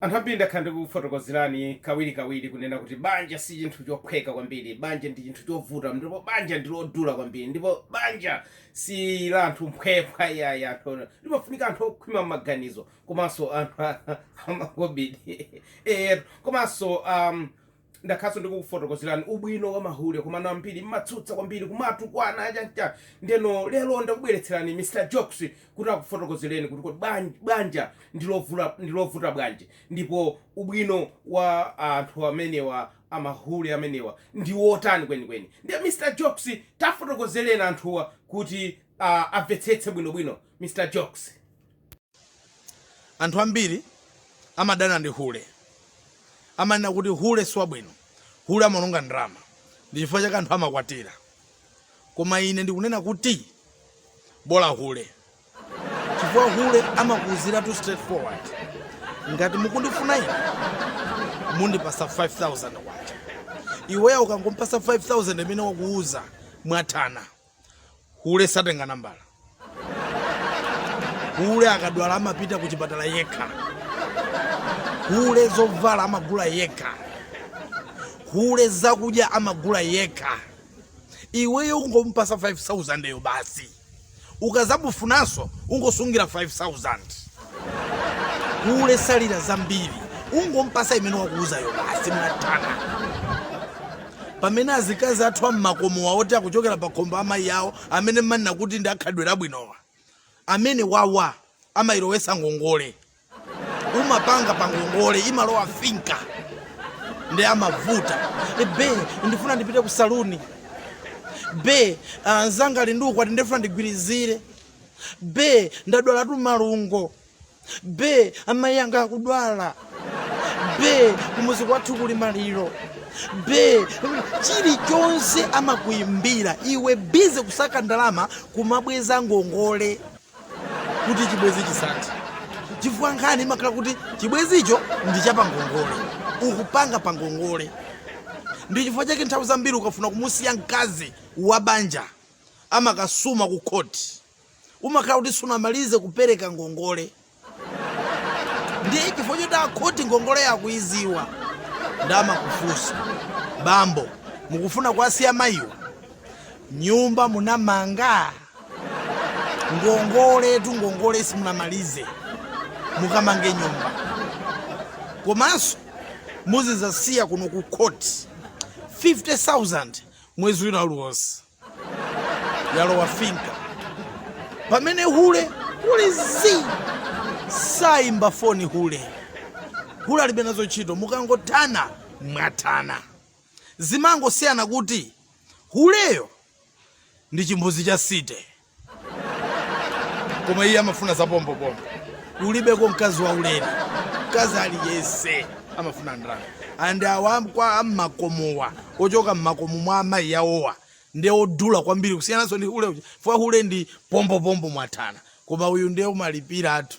Anthu ambiri ndakhala ndikukufotokozerani kawirikawiri kunena kuti banja si chinthu chophweka kwambiri, banja ndi chinthu chovuta, ndipo banja ndi lodula kwambiri, ndipo banja si la anthu mphwephwa iyayi, ndipo limafunika anthu okhwima m'maganizo komanso anthu a, amakobidi eetu komanso um, ndakhalanso ndikukufotokozerani ubwino wa mahule komano ambiri mumatsutsa kwambiri kumatukwana chanichani ndeno lero ndakubweretserani mr jokes kuti akufotokozereni kuti kodi bwan- bwanja ndilovula- ndilovuta bwanji ndipo ubwino wa anthu amenewa amahule amenewa ndi wotani kwenikweni ndiye mr jokes tafotokozereni anthuwa kuti uh, amvetsetse bwinobwino mr jokes Anthu ambiri amadana ndi hule. Amanena kuti hule si wabwino, hule amawononga ndrama, ndi chifukwa chake anthu amakwatira. Koma ine ndikunena kuti, bola hule, chifukwa hule amakuuziratu straight forward, Ngati mukundifuna ine, mundipasa K5,000. Iweyo ukangompasa 5,000 imene wakuuza, mwathana. hule satenga nambala hule akadwala amapita ku chipatala yekha hule zovala amagula yekha hule zakudya amagula yekha iweyo ungompasa 5000yo basi ukazamufunanso ungosungira 5000 hule salira zambiri ungompasa imene wakuuzayo basi mwathana pamene azikazi athu am'makomowa oti akuchokera pa khomo pa amayi awo amene mumanena kuti ndi akhalidwe labwinowa amenewawa amakulowesa ngongole umapanga pa ngongole imalowa finka ndi amavuta be ndifuna ndipite ku saluni be anzanga ali ndi ukwati ndifuna ndigwirizire be ndadwalatu malungo be amayi anga akudwala be kumuzi kwathu kuli maliro be chilichonse amakuimbira iwe bize kusaka ndalama kumabweza ngongole kuti chibwezi chisathe chifukwa nkhani imakhala kuti chibwezicho ndi chapangongole ukupanga pangongole ndi chifukwa chake nthawi zambiri ukafuna kumusiya mkazi wa banja amakasuma ku khoti umakhala kuti sunamalize kupereka ngongole ndi chifukwa chotu akhoti ngongoleyo akuiziwa nde amakufunsa bambo mukufuna kuwasiya mayiwa nyumba munamanga ngongoletu ngongole simunamalize mukamange nyumba komanso muzizasiya kuno ku khoti 50000 mwezi wina uliwonse yalowa finka pamene hule hule sayimba foni hule hule alibe nazo ntchito mukangothana mwathana zimangosiyana kuti huleyo ndi chimbuzi cha city koma iye amafuna zapombopombo kulibeko mkazi waulere mkazi aliyese amafuna ndalama and awa a mmakomowa ochoka mmakomo mwa amayi awowa ndi odula kwambiri kusiyananso ndi hule uja fwa hule ndi pombopombo mwathana koma uyu ndiye umalipiratu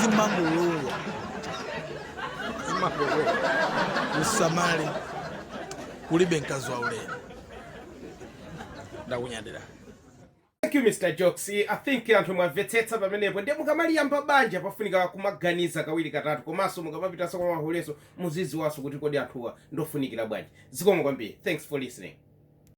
zimangolowa zimangolowa usamale kulibe mkazi waulere ndakunyadira Thank you Mr. Jokes. I think anthu mwamvetsetsa pamenepo ndiye mukamaliyamba banja pafunika kumaganiza kawiri katatu komanso mukamapitanso kwa mahulenso muzidziwanso kuti kodi anthuwa ndofunikira bwanji zikomo kwambiri thanks for listening